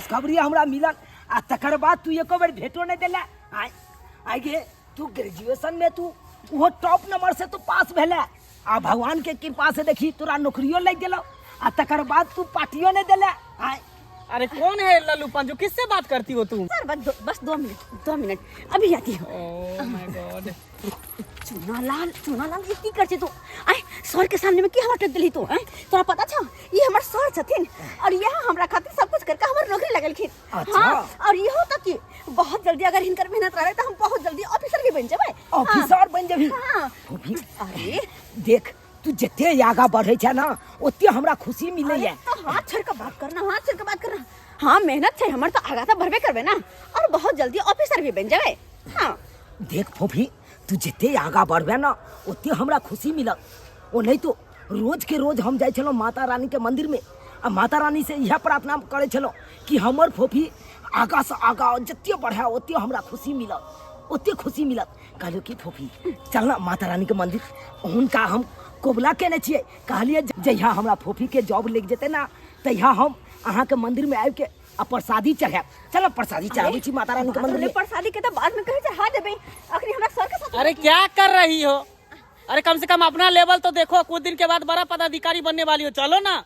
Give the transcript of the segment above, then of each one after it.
खबरी हमरा मिलल आ तकर बाद तू एको बेर भेटो नहीं दिला आय आय गे तू ग्रेजुएशन में तू वो टॉप नंबर से तू पास भेले आ भगवान के कृपा से देखी तोरा नौकरियो लग गेलो आ तकर बाद तू पार्टियो नहीं दिला आय अरे कौन है लल्लू पंजू किससे बात करती हो तुम सर बस दो, बस दो मिनट दो मिनट अभी आती हूँ ओह माय गॉड चूना लाल चूना लाल ई की कर छै तू आय सर के सामने में की हवा टक देली तू आय तोरा पता छ ई हमर सर छथिन और यह हमरा खातिर सब कुछ करके हमर नौकरी लगलखिन अच्छा। हाँ और इहो तक कि बहुत जल्दी अगर हिनकर मेहनत रहे तो हम बहुत जल्दी ऑफिसर भी बन जेबै ऑफिसर बन जेबही हाँ अरे देख तू जते आगा बढ़े छै ना ओते हमरा खुशी मिले है तो हाथ छोड़ के बात करना हाथ छोड़ के बात करना हाँ मेहनत छै हमर तो आगा तो बढ़बे करबे ना और बहुत जल्दी ऑफिसर भी बन जाबे हाँ देख फोफी तू जते आगा बढ़बे ना ओते हमरा खुशी मिलत ओ नहीं तो रोज के रोज हम जाय छलो माता रानी के मंदिर में आ माता रानी से यह प्रार्थना करे छलो कि हमर फोफी आगा से आगा जते बढ़े ओते हमरा खुशी मिलत ओते खुशी मिलत कहलियो कि फूफी चल ना माता रानी के मंदिर हुनका हम कोबला केने छियै कहलियै जे- जहिया हमरा फूफी के जॉब लग जेतै ना तहिया हम अहाँ के मंदिर में आबि के आ प्रसादी चढ़ायब चल प्रसादी चढ़ाबै छी माता रानी के मंदिर अरे में प्रसादी के तो बाद में कहे चढ़ा देबे अखनी हमरा सर के साथ अरे क्या कर रही हो अरे कम से कम अपना लेवल तो देखो कुछ दिन के बाद बड़ा पदाधिकारी बनने वाली हो चलो ना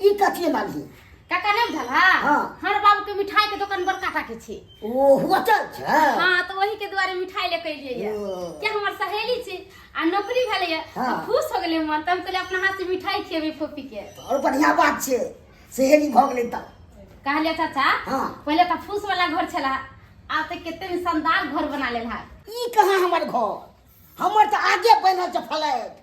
ई कथी मानली काका नहीं बुझल है हाँ। हर बाबू के मिठाई के दुकान बड़का टा के छे ओ होटल छै हाँ तो वही के दुआरे मिठाई लेके अलिए ये ओ। के हमर सहेली छे आ नौकरी भेले ये हाँ। तो खुश हो गेले मन तब कहले अपना हाथ से मिठाई खेबे फोपी के और बढ़िया बात छै सहेली भऽ गेलै तऽ कहले चाचा हाँ। पहले तो फूस वाला घर छला आब तो केते में शानदार घर बना लेल है ई कहाँ हमर घर हमर तऽ आगे बनल छै फ्लैट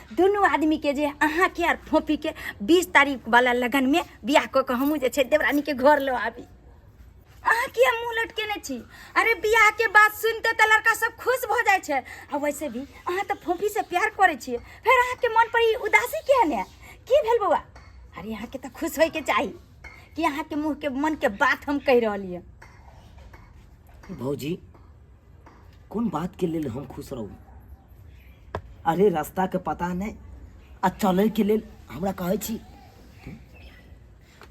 दुनू आदमीके जे अहाँके आर फोफीके बीस तारीखवला लगनमे बियाह कऽ कऽ हमहूँ जे छै देवरानीके घर लऽ आबी अहाँ किया मुँह लटकेने छी अरे बियाह के बात सुनते तऽ लड़का सब खुश भऽ जाइ छै आ वैसे भी अहाँ तऽ फोफी से प्यार करै छियै फेर अहाँके मन पर ई उदासी किया ने की भेल बौआ अरे अहाँके तऽ खुश होइके चाही कि अहाँके मुँहके मनके बात हम कहि रहलियै भौजी कोन बातके लेल हम खुश रहू अरे रास्ताके पता नहि आ चलैके लेल हमरा कहै छी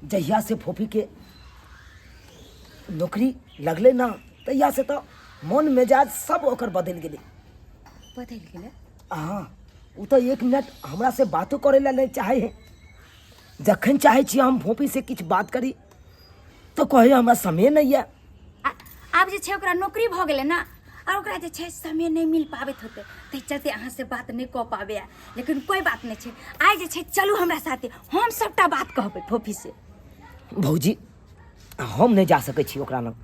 जहिया से फोफीके नौकरी लगलै ना तहिया से तऽ मन मेजाज सब ओकर बदलि गेलै बदलि गेलै अहाँ ओ तऽ एक मिनट हमरा से बातो करै लए नहि चाहै है जखन चाहै छी हम फोफी से किछु बात करी तो कहियो हमरा समय नहीं है आ- आब जे छै ओकरा नौकरी भऽ गेलै ने आओर ओकरा जे छै समय नहि मिल पाबैत होतै ताहि चलते अहाँसँ बात नहि कऽ पाबै आ। लेकिन कोइ बात नहि छै आइ जे छै चलू हमरा साथे हम सभटा बात कहबै फोफी से भौजी हम नहीं जा सकै छी ओकरा लग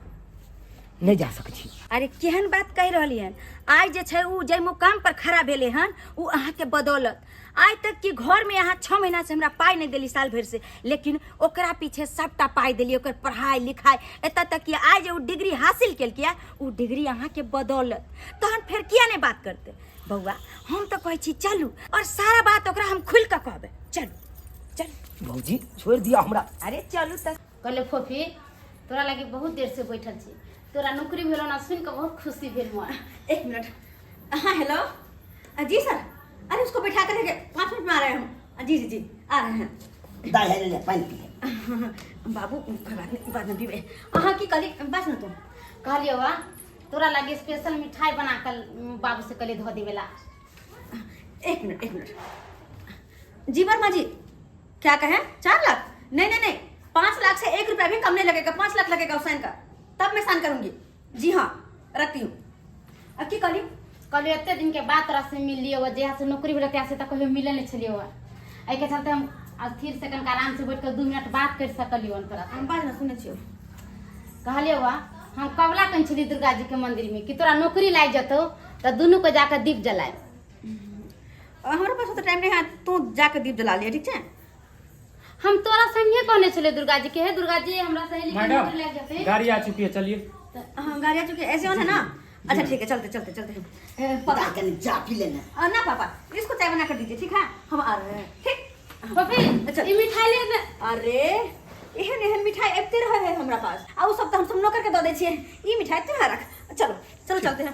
नहीं जा सकै छी अरे केहन बात कहि रहली हन आइ जे छै ओ जाहि मुकाम पर खड़ा भेलै हन ओ अहाँके बदौलत आइ तक कि घर में यहाँ छः महीना से हमरा पाई नहीं दिली साल भर से लेकिन ओकरा पीछे सबटा पाई दिली ओकर पढ़ाई लिखाई एत तक कि आज जे उ डिग्री हासिल कल किया उ डिग्री अहाँ के बदौलत तहन फिर किया नहीं बात करते बउआ हम तो कहे छी चलू और सारा बात ओकरा हम खुल के कहबे चलू चलू भौजी छोड़ दिया हमरा अरे चलू तक कहले फोफी तोरा लागे बहुत देर से बैठल छी तोरा नौकरी भेलो ना सुन के बहुत खुशी भेल मोर एक मिनट हाँ हेलो अ, जी सर अरे उसको बैठा कर रखे पाँच मिनट में आ रहे हैं हम अ, जी जी जी आ रहे हैं दाई है ले पानी पी ले। बाबू कोई बात नहीं बाद में पीबे अहाँ की कहली बस ना तुम कहलियो वा तोरा लागे स्पेशल मिठाई बना कर बाबू से कहले धो देवेला एक मिनट एक मिनट जी वर्मा जी क्या कहें चार लाख नहीं नहीं नहीं पांच लाख से एक रुपया भी कम नहीं लगेगा पांच लाख लगेगा हुसैन का तब मैं साइन करूंगी जी हाँ रखती हूँ अब की कहली कहली एते दिन के बाद तोरा से मिल लियो जहिया से नौकरी भेल तहिया से तऽ कहियो मिले नहीं छलियो एहि के चलते हम स्थिर से कनिका आराम से बैठ के दू मिनट बात कर सकलियो हन तोरा हम बात ना सुने छियो कहलियो वा हम कबला कन छली दुर्गा जी के मंदिर में कि तोरा नौकरी लाग जतो तऽ दुनू को जाकर दीप जलाए हमरा पास तो टाइम नहीं है तू जाके दीप जला लिया ठीक है हम तोरा संगे कहने चले दुर्गा जी के है दुर्गा जी हमरा सहेली के मैडम नौकर लग जाते गाड़ी आ चुकी है चलिए तो हम गाड़ी आ चुके ऐसे होना ना अच्छा ठीक है चलते चलते चलते हम ए, पापा के लिए जा पी लेना अ, ना पापा इसको चाय बना कर दीजिए ठीक है हम आ रहे हैं ठीक पपी अच्छा। ई मिठाई ले ले अरे एहन एहन मिठाई अबिते रहे है हमरा पास आ उ सब तो हम सब नौकर के दऽ दै छियै ई मिठाई तोरा रख चलो चलो चलते हैं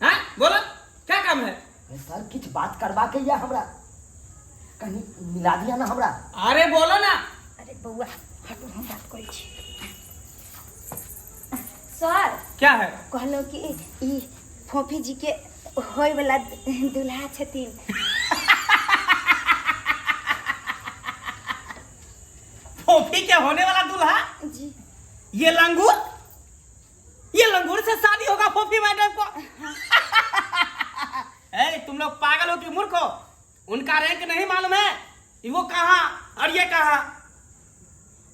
हैं बोला क्या काम है अरे सर किछ बात करवा के या हमरा कहीं मिला दिया ना हमरा अरे बोला ना अरे बउआ हटो हम बात करै छी सर क्या है कहलो कि ई फोफी जी के होय वाला दुल्हा छथिन फोफी के होने वाला दूल्हा जी ये लंगूर ये लंगूर से शादी होगा फोफी मैडम को ए, तुम लोग पागल हो कि मूर्ख हो उनका रैंक नहीं मालूम है कि वो कहाँ और ये कहाँ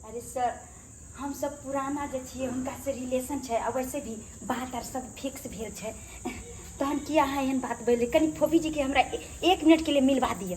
अरे सर हम सब पुराना जे छियै हुनका से रिलेशन छै आ वैसे भी बात आर सब फिक्स भेल छै तहन की अहाँ एहन बात बोले कनी फोफी जी के हमरा ए- एक मिनट के लिए मिलवा दिअ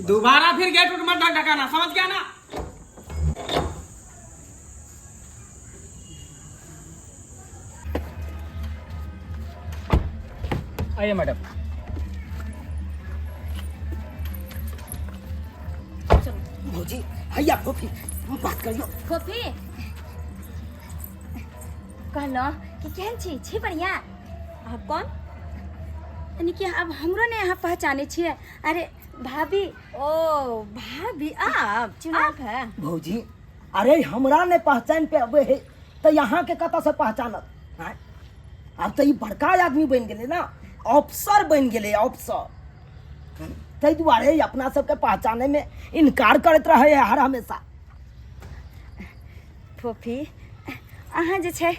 दोबारा फिर गेट उठ मत ढकाना समझ गया ना आइए मैडम भौजी आइए आप कॉफी बात कर लो कॉफी कहलो कि केहन छी छी बढ़िया आप कौन यानी कि अब हमरो ने यहाँ पहचाने छिए अरे भाभी ओ भाभी आप आप है भौजी अरे हमरा ने पहचान पे अबे है तो यहाँ के कत से पहचानत हैं? अब तो ई बड़का आदमी बन गेले ना अफसर बन गेले अफसर हैं? ताहि दुआरे ई अपना सबके पहचाने में इनकार करत रहे है हर हमेशा फोफी अहाँ जे छै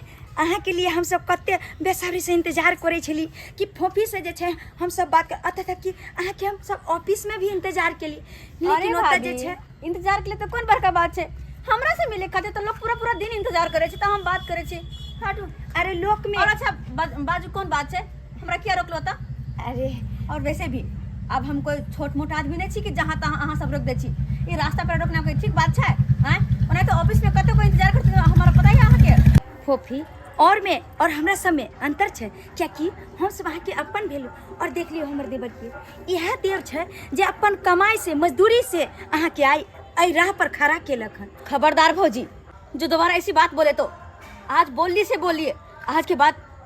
अहाँके लिए हमसब कते बेसब्रीसँ इन्तजार करै छली कि फोफीसँ जे छै हमसब बात कर अतः तक कि अहाँके हमसब ऑफिसमे भी इन्तजार केली अरे लेकिन ओतऽ जे भाभी छै इंतजार के लिए तो कौन बड़का बात छै हमरा से मिले खातिर तो लोग पूरा पूरा दिन इंतजार करे छै तो हम बात करे छी हटू अरे लोकमे और अच्छा बा- बाजू कौन बात छै हमरा किया रोकलो तऽ अरे और वैसे भी अब हम कोई छोट मोट आदमी नहीं छी कि जहाँ तहाँ अहाँ सब रोक दै छी ई रास्ता पर रोकना कोई ठीक बात छै आँय ओना तऽ ऑफिस में कतौ कोई इंतजार करते हमारा पता ही अहाँके फोफी और में और हमरा सब में अंतर छै कियाकि हम सब अहाँके अपन भेलू और देख लियो हमर देवर के इएह देव छै जे अपन कमाई से मजदूरी से अहाँके आई एहि राह पर खड़ा केलक हन खबरदार भौजी जो दोबारा ऐसी बात बोले तो आज बोलली से बोलिए आज के बाद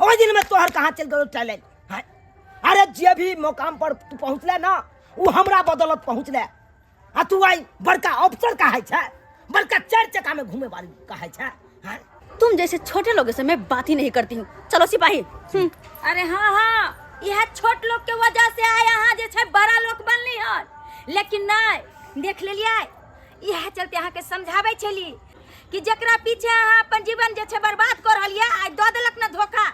ओहि दिन में तोहर कहाँ चल गयो टैलेंट हैं? अरे जे भी मुकाम पर तू पहुँचले ना वो हमरा बदौलत पहुँचले आ तू आई बड़का अफसर कहे छै बड़का चार चक्का में घूमे वाली कहे छै हैं? तुम जैसे छोटे लोगों से मैं बात ही नहीं करती हूँ चलो सिपाही हम्म, अरे हाँ हाँ यह छोट लोग के वजह से आय अहाँ जे छै बड़ा लोग बनली हन लेकिन नहीं देख लेलिए इएह चलते अहाँके समझाबै छली कि जकरा पीछे अहाँ अपन जीवन जे छै बर्बाद कऽ रहल यऽ आइ दऽ देलक ने धोखा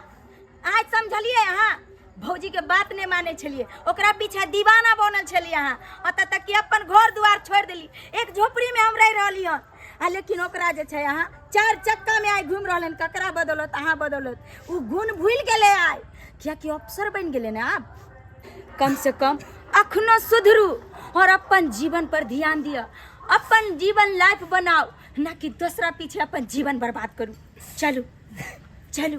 आइ समझलियै अहाँ भौजीके बात नहि मानै छलियै ओकरा पीछे दीवाना बनल छलियै अहाँ ओतऽ तक कि अपन घर दुआर छोड़ि देली एक झोपड़ीमे हम रहि रहली हन आ लेकिन ओकरा जे छै अहाँ चारि चक्कामे आइ घुमि रहल हन ककरा बदौलत अहाँ बदौलत ओ गुण भूलि गेलै आइ कियाकि अफसर बनि गेलै ने आब कम से कम अखनो सुधरू और अपन जीवन पर ध्यान दिअ अपन जीवन लाइफ बनाओ ना कि दूसरा पीछे अपन जीवन बर्बाद करू चलू चलू